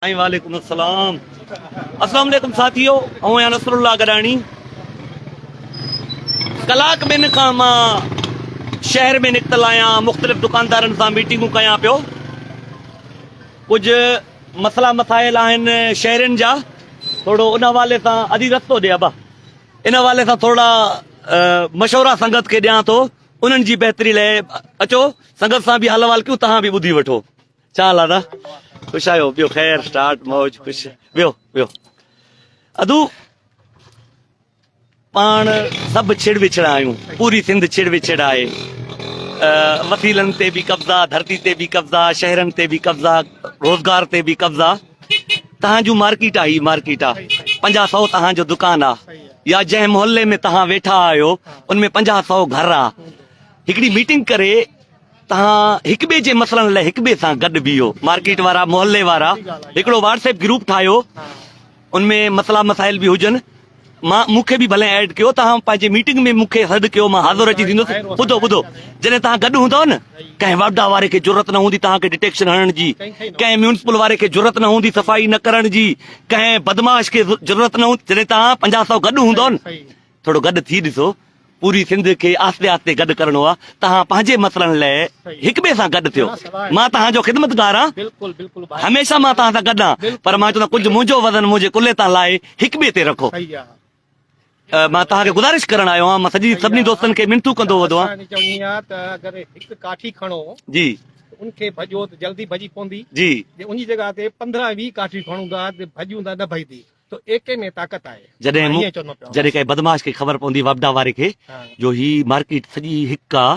وعليڪم السلام اسلام عليڪم ساٿيو آئون آهيان نصر الله گڏاڻي ڪلاڪ ٻن کان مان شهر ۾ نڪتل آهيان مختلف دڪاندارن سان ميٽنگون ڪيان پيو ڪجهه مسئلا مسائل آهن شهرين جا ٿورو ان حوالي سان ادي رستو ڏي ابا ان حوالي سان ٿورا مشورا سنگت کي ڏيان ٿو انهن جي بهتري لاء اچو سنگت سان به حل حوال ڪيون تهان به ٻڌي وٺو چال ادا خوش آيو بيو خير سٽارٽ موج خوش بيو بيو ادو پان سب چھڑ وچھڑا آيو پوری سندھ چھڑ وچھڑ آئے وسيلن تي به قبضا ڌرتي تي به قبضا شهرن تي به قبضا روزگار تي به قبضا تهان جو مارڪيٽ آهي مارڪيٽ آ 50 100 تهان جو دڪان آ يا جنهن محلي ۾ تهان ويٺا آهيو ان ۾ 50 100 گهر آ هڪڙي ميٽنگ ڪري تهان هڪ ٻئي جي مسئلن لاء هڪ ٻئي سان گڏ بيهو مارڪيٽ وارا محلي وارا هڪڙو واٽس ايپ گروپ ٺاهيو ان ۾ مسئلا مسائل به هجن مان مون کي به ڀلي ايڊ ڪيو تهان پنهنجي ميٽنگ ۾ مون کي سڏ ڪيو مان حاضر اچي ٿيندس ٻڌو ٻڌو جڏهن تهان گڏ هوندو نه ڪنهن واپڊا واري کي ضرورت نه هوندي تهان کي ڊٽيڪشن هڻڻ جي ڪنهن ميونسپل واري کي ضرورت نه هوندي صفائي نه ڪرڻ جي ڪنهن بدماش کي ضرورت نه هوندي جڏهن تهان پنجاهه سو گڏ هوندو نه ٿورو گڏ ٿي ڏسو. پوري سنڌ کي آهستي آهستي گڏ ڪرڻو آهي. توهان پنهنجي مسئلن لاء هڪ ٻئي سان گڏ ٿيو. مان توهان جو خدمتگار آهيان. هميشه مان توهان سان گڏ آهيان. پر مان چوندو آهيان ڪجهه منهنجو وزن منهنجي ڪلهي تان لاهي هڪ ٻئي تي رکو. مان توهان کي گذارش ڪرڻ آيو آهيان. مان سڄي سڀني دوستن کي منٿون ڪندو وڌو آهيان. اسان چوني آ ته اگر هڪ ڪاٺي کڻو جي ان کي ڀڄو ته جلدي ڀڄي پوندي جي ان جي جڳهه تي پندرهن ويهه ڪاٺيون کڻون ٿا ته ڀڄون ٿا نه ڀڄدي. تو ايڪي ۾ طاقت آهي. جڏهن مون جڏهن ڪنهن بدمعاش کي خبر پوندي وپڊا واري کي جو هي مارڪيٽ سڄي هڪ آ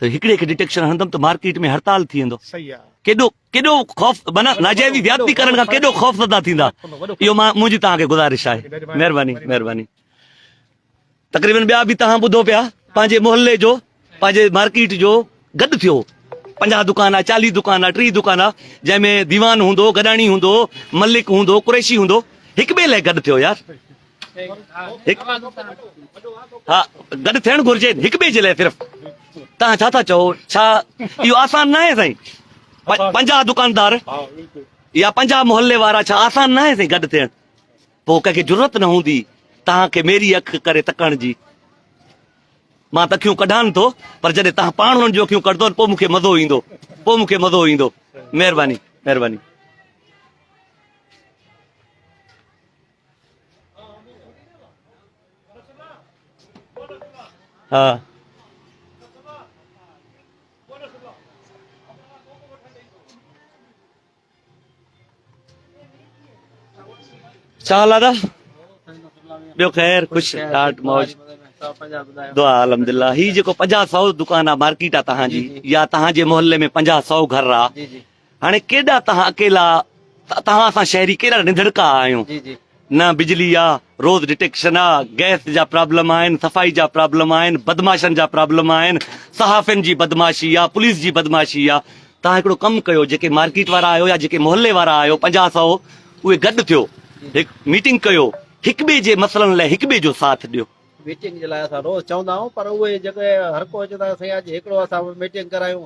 ته هڪڙي کي ڊٽيڪشن هڻندم ته مارڪيٽ ۾ هڙتال ٿي ويندو صحيح آ ڪيڏو ڪيڏو خوف معنيٰ ناجائزي زيادتي ڪرڻ کان ڪيڏو خوفزده ٿيندا اهو مان منهنجي توهان کي گذارش آهي مهرباني مهرباني تقريبن ٻيا به توهان ٻڌو پيا پنهنجي محلي جو پنهنجي مارڪيٽ جو گڏ ٿيو پنجاهه دڪان آ چاليهه دڪان آ ٽيهه دڪان آ جنهن ۾ ديوان هوندو گڏاڻي هوندو ملڪ هوندو قريشي هوندو هڪ ٻئي لاء گڏ ٿيو يار ها گڏ ٿيڻ گهرجي هڪ ٻئي جي لاء صرف توهان ڇا ٿا چئو ڇا اهو آسان نه آهي سائين پنجاهه دڪاندار يا پنجاهه محلي وارا ڇا آسان نه آهي سائين گڏ ٿيڻ پوء ڪنهن کي جرئت نه هوندي توهان کي ميري اک ڪري تڪڻ جي. مان ته اکيون ڪڍان ٿو پر جڏهن توهان پاڻ انهن جون اکيون ڪڍندو پوء مون کي مزو ايندو. پوء مون کي مزو ايندو. مهرباني. مهرباني. ها. ڇا حال آ دا ٻيو خير خوش ڏاڍ موج دعا الحمدللہ هي جيڪو 5000 دڪان آ مارڪيٽ آ تهان جي يا تهان جي محلي ۾ 5000 گهر آ هاڻي ڪيڏا تهان اڪيلا تهان سان شهري ڪيڏا ننڌڙڪا آهيون نه بجلي آ، روز ڊٽيڪشن آ، گئس جا پرابلم آهن، صفائي جا پرابلم آهن، بدمعاشن جا پرابلم آهن، صحافين جي بدمعاشي آ، پوليس جي بدمعاشي آ. توهان هڪڙو ڪم ڪيو جيڪي مارڪيٽ وارا آهيو يا جيڪي محلي وارا آهيو پنجاهه سئو اهي گڏ ٿيو هڪ ميٽنگ ڪيو هڪ ٻئي جي مسئلن لاء هڪ ٻئي جو ساٿ ڏيو. ميٽنگ جي لاء اسان روز چوندا آهيون پر اهي جيڪي هر ڪو چوندا آهي سائين اڄ هڪڙو اسان ميٽنگ ڪرايون.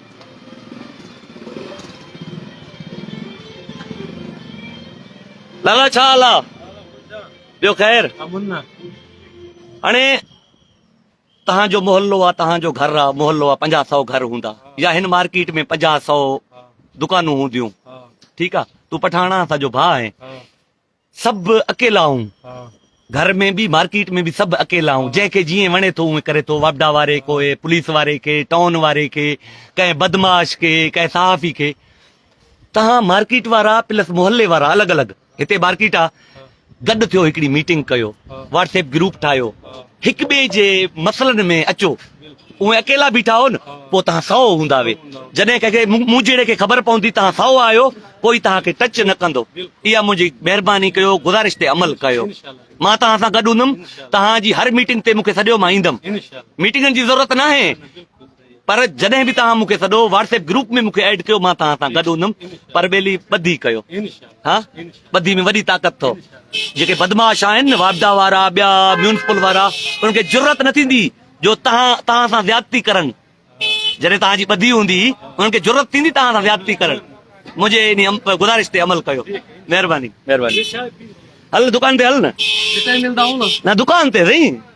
لالا ڇا حال آ ٻيو خير هاڻي تهان جو محلو آ تهان جو گهر آ محلو آ پنجاهه سو گهر هوندا يا هن مارڪيٽ ۾ پنجاهه سو دڪانون هونديون ٺيڪ آ تون پٺاڻا اسان جو ڀاء آهين سڀ اڪيلا آئون گهر ۾ به مارڪيٽ ۾ به سڀ اڪيلا آئون جنهن کي جيئن وڻي ٿو اونئن ڪري ٿو واپڊا واري ڪوئي پوليس واري کي ٽائون واري کي ڪنهن بدماش کي ڪنهن صحافي کي تهان مارڪيٽ وارا پلس محلي وارا الڳ الڳ هتي مارڪيٽ آ گڏ ٿيو هڪڙي ميٽنگ ڪيو واٽس ايپ گروپ ٺاهيو هڪ ٻئي جي مسئلن ۾ اچو اوهين اڪيلا بيٺا هو نه پوء تهان سئو هوندا وي جڏهن ڪنهن کي مون جهڙي کي خبر پوندي تهان سئو آهيو ڪوئي تهان کي ٽچ نه ڪندو اها منهنجي مهرباني ڪيو گذارش تي عمل ڪيو مان تهان سان گڏ هوندم تهان جي هر ميٽنگ تي مون کي سڏيو مان ايندم ميٽنگن جي ضرورت ناهي پر جڏهن به توهان مون کي سڏو واٽس ايپ گروپ ۾ مون کي ايڊ ڪيو مان توهان سان گڏ هوندم پر ٻيلي ٻڌي ڪيو ها ٻڌي ۾ وڏي طاقت اٿو جيڪي بدمعاش آهن واپڊا وارا ٻيا ميونسپل وارا انهن کي ضرورت نه ٿيندي جو توهان توهان سان زيادتي ڪرن جڏهن توهان جي ٻڌي هوندي انهن کي ضرورت ٿيندي توهان سان زيادتي ڪرن منهنجي ان گزارش تي عمل ڪيو مهرباني مهرباني هل دڪان تي هل نه دڪان تي سائين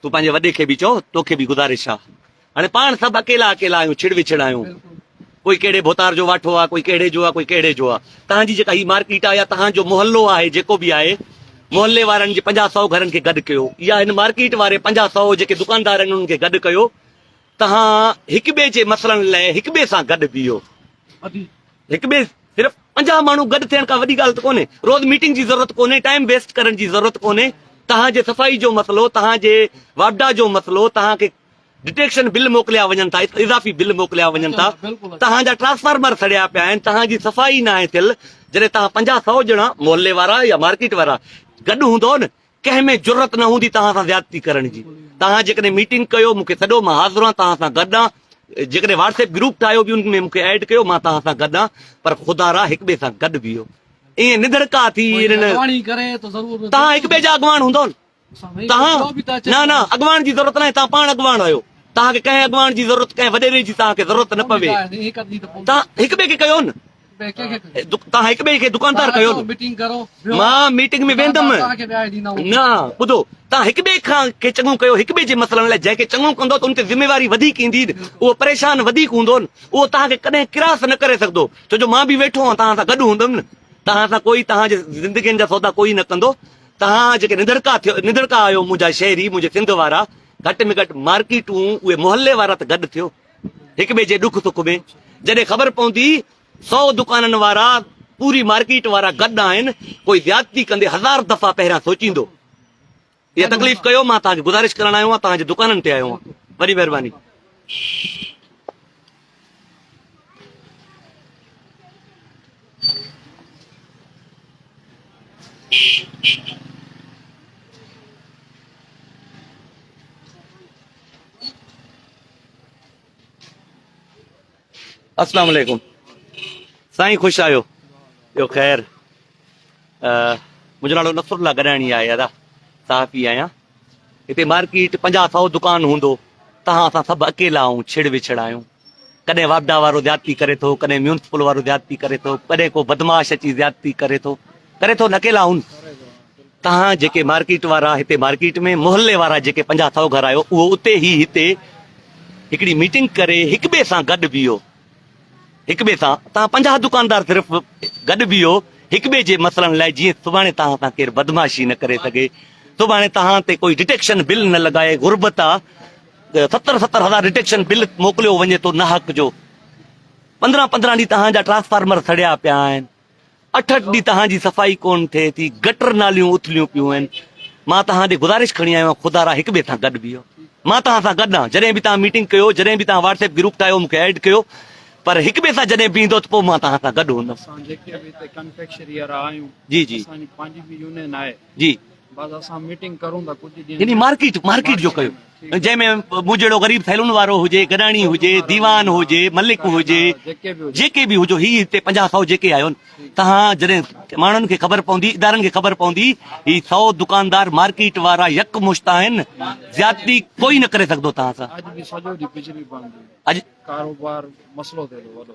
تون پنهنجي وڏي کي به چئو توکي به گذارش آ هاڻي پاڻ سڀ اڪيلا اڪيلا آهيون ڇڙ وڇڙ آهيون ڪوئي ڪهڙي ڀوتار جو واٺو آ ڪوئي ڪهڙي جو آ ڪوئي ڪهڙي جو آ تهان جي جيڪا هي مارڪيٽ آ يا تهان جو محلو آهي جيڪو به آهي محلي وارن جي پنجاهه سؤ گهرن کي گڏ ڪيو يا هن مارڪيٽ واري پنجاهه سؤ جيڪي دڪاندار آهن انهن کي گڏ ڪيو توهان هڪ ٻئي جي مسئلن لاء هڪ ٻئي سان گڏ بيهو هڪ ٻئي صرف پنجاهه ماڻهو گڏ ٿيڻ ڪا وڏي ڳالهه ته ڪونهي روز ميٽنگ جي ضرورت ڪونهي ٽائيم ويسٽ ڪرڻ جي ضرورت ڪونهي توهان جي صفائي جو مسئلو توهان جي واپڊا جو مسئلو توهان کي ڊٽيڪشن بل موڪليا وڃن ٿا اضافي بل موڪليا وڃن ٿا توهان جا ٽرانسفارمر سڙيا پيا آهن توهان جي صفائي ناهي ٿيل جڏهن توهان پنجاهه سؤ ڄڻا محلي وارا يا مارڪيٽ وارا گڏ هوندو نه ڪنهن ۾ جرئت نه هوندي توهان سان زيادتي ڪرڻ جي توهان جيڪڏهن ميٽنگ ڪيو مونکي سڏو مان حاضر آهيان توهان سان گڏ آهيان جيڪڏهن واٽس ايپ گروپ ٺاهيو به ان ۾ مونکي ايڊ ڪيو مان توهان سان گڏ آهيان پر خدا را هڪ ٻئي سان گڏ بيهو ائين ندڙڪا ٿي توهان هڪ ٻئي جا اڳواڻ هوندو نه توهان نه نه اڳواڻ جي ضرورت ناهي توهان پاڻ اڳواڻ آهيو توهان کي ڪنهن اڳواڻ جي ضرورت ڪنهن وڏيري جي توهان کي ضرورت نه پوي توهان هڪ ٻئي کي ڪيو نه توهان هڪ ٻئي کي دڪاندار ڪيو مان ميٽنگ ۾ ويندم نه ٻڌو توهان هڪ ٻئي کان کي چڱو ڪيو هڪ ٻئي جي مسئلن لاء جنهن کي چڱو ڪندو ته ان تي ذميواري وڌيڪ ايندي اهو پريشان وڌيڪ هوندو اهو توهان کي ڪڏهن ڪراس نه ڪري سگهندو ڇو جو مان به ويٺو آهيان توهان سان گڏ هوندم نه توهان سان ڪوئي توهان جي زندگين جا سودا ڪوئي نه ڪندو توهان جيڪي ننڌڙڪا ٿيو ننڌڙڪا آهيو منهنجا شهري منهنجي سنڌ وارا گهٽ ۾ گهٽ مارڪيٽون اهي محلي وارا ته گڏ ٿيو هڪ ٻئي جي ڏک سک ۾ جڏهن خبر پوندي سؤ دڪانن وارا پوري مارڪيٽ وارا گڏ آهن ڪوئي زيادتي ڪندي هزار دفعا پهريان سوچيندو اها تڪليف ڪيو مان توهان کي گذارش ڪرڻ آيو آهيان توهان جي دڪانن تي آيو آهيان وڏي مهرباني اسلام عليڪم سائين خوش آيو ٻيو خير منهنجو نالو نصر الله گڏاڻي آهي ادا صحافي آهيان هتي مارڪيٽ پنجاهه سو دڪان هوندو تهان اسان سڀ اڪيلا آهيون ڇڙ وڇڙ آهيون ڪڏهن واپڊا وارو زيادتي ڪري ٿو ڪڏهن ميونسپل وارو زيادتي ڪري ٿو ڪڏهن ڪو بدماش اچي زيادتي ڪري ٿو ڪري ٿو نه اڪيلا آهيون توهان جيڪي مارڪيٽ وارا هتي مارڪيٽ ۾ محلي وارا جيڪي پنجاهه سئو گهر آهيو اهو اتي هي هتي هڪڙي ميٽنگ ڪري هڪ ٻئي سان گڏ بيهو هڪ ٻئي سان توهان پنجاهه دڪاندار صرف گڏ بيهو هڪ ٻئي جي مسئلن لاء جيئن سڀاڻي توهان سان ڪير بدمعاشي نه ڪري سگهي سڀاڻي توهان تي ڪوئي ڊٽيڪشن بل نه لڳائي غربت آهي ستر ستر هزار ڊٽيڪشن بل موڪليو وڃي ٿو ناحق جو پندرهن پندرهن ڏينهن توهان جا ٽرانسفارمر سڙيا پيا آهن اٺ اٺ ڏينهن تهان جي صفائي ڪون ٿئي ٿي گٽر ناليون اٿليون پيون آهن مان تهان ڏي گذارش کڻي آيو آهيان خدا را هڪ ٻئي سان گڏ بيهو مان تهان سان گڏ آهيان جڏهن به تهان ميٽنگ ڪيو جڏهن به تهان واٽس ايپ گروپ ٺاهيو مونکي ايڊ ڪيو پر هڪ ٻئي سان جڏهن بيهندو ته پوء مان تهان سان گڏ هوندم جي جي يعني مارڪيٽ مارڪيٽ جو ڪيو جنهن ۾ مون جهڙو غريب ٿيلون وارو هجي گڏاڻي هجي ديوان هجي ملڪ هجي جيڪي به هجو هي هتي پنجاهه سو جيڪي آيو تهان جڏهن ماڻهن کي خبر پوندي ادارن کي خبر پوندي هي سو دڪاندار مارڪيٽ وارا يڪ مشت آهن زيادتي ڪوئي نه ڪري سگهندو تهان سان اڄ ڪاروبار مسئلو ٿيو وڏو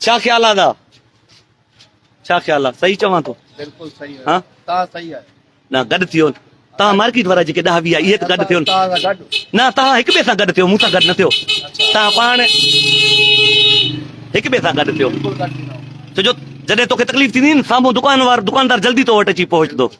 ڇا خيال آ ادا ڇا خيال آ صحيح چوان ٿو بلڪل صحيح ها تان صحيح آ نه گڏ ٿيو تان مارڪيٽ وارا جيڪي ڏاھ ويا اهي ته گڏ ٿيو نه تان هڪ ٻئي سان گڏ ٿيو مون سان گڏ نه ٿيو تان پاڻ هڪ ٻئي سان گڏ ٿيو ڇو جو جڏهن توکي تڪليف ٿيندي نه سامهون دڪان وار دڪاندار جلدي تو وٽ اچي پهچندو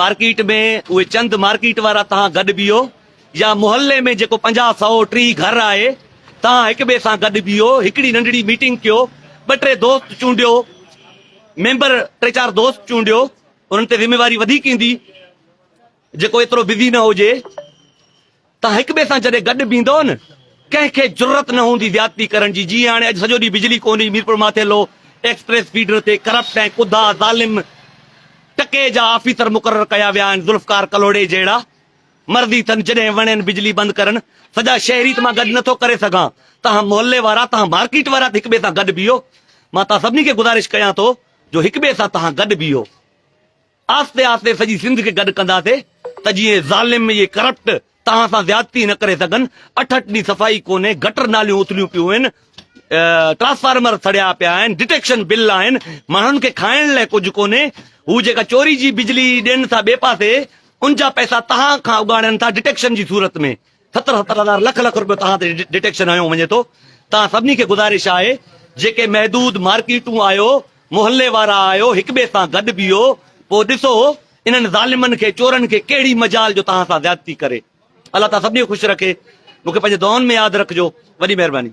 مارڪيٽ ۾ اهي چند مارڪيٽ وارا تهان گڏ بيهو يا محلي ۾ جيڪو پنجاهه سئو ٽيهه گهر آهي تهان هڪ ٻئي سان گڏ بيهو هڪڙي ننڍڙي ميٽنگ ڪيو ٻه ٽي دوست چونڊيو ميمبر ٽي چار دوست چونڊيو انهن تي ذميواري وڌيڪ ايندي جيڪو ايترو بزي نه هجي توهان هڪ ٻئي سان جڏهن گڏ بيهندؤ نه ڪنهن کي جرئت نه هوندي زيادتي ڪرڻ جي جيئن هاڻي اڄ سڄو ڏينهن بجلي ڪونهي هئي Mirpur Mathelo express feeder تي ڪرپٽ ۽ ڪڌا ظالم ٽڪي جا آفيسر مقرر ڪيا ويا آهن ذوالفقار ڪلهوڙي جهڙا مرضي ٿن جڏهن وڻين بجلي بند ڪرن سڄا شهري ته مان گڏ نٿو ڪري سگهان توهان محلي وارا توهان مارڪيٽ وارا ته هڪ ٻئي سان گڏ بيهو مان توهان سڀني کي گذارش ڪيان ٿو جو هڪ ٻئي سان توهان گڏ بيهو. آهستي آهستي سڄي سنڌ کي گڏ ڪنداسي ته جيئن ظالم اهي ڪرپٽ توهان سان زيادتي نه ڪري سگهن اٺ اٺ ڏينهن صفائي ڪونهي گٽر ناليون اٿليون پيون آهن ٽرانسفارمر سڙيا پيا آهن ڊٽيڪشن بل آهن ماڻهن کي کائڻ لاء ڪجهه ڪونهي هو جيڪا چوري جي بجلي ڏين ٿا ٻئي پاسي ان جا پئسا توهان کان اڳاڙين ٿا ڊٽيڪشن جي صورت ۾ ستر ستر هزار لک لک روپيو توهان تي ڊٽيڪشن هنيو وڃي ٿو توهان سڀني کي گذارش آهي جيڪي محدود مارڪيٽون آهيو محلي وارا آهيو هڪ ٻئي سان گڏ بيهو پوء ڏسو انهن ظالمن کي چورن کي ڪهڙي مجال جو توهان سان زيادتي ڪري الله تعاليٰ سڀني کي خوش رکي مونکي پنهنجي دعائن ۾ ياد رکجو وڏي مهرباني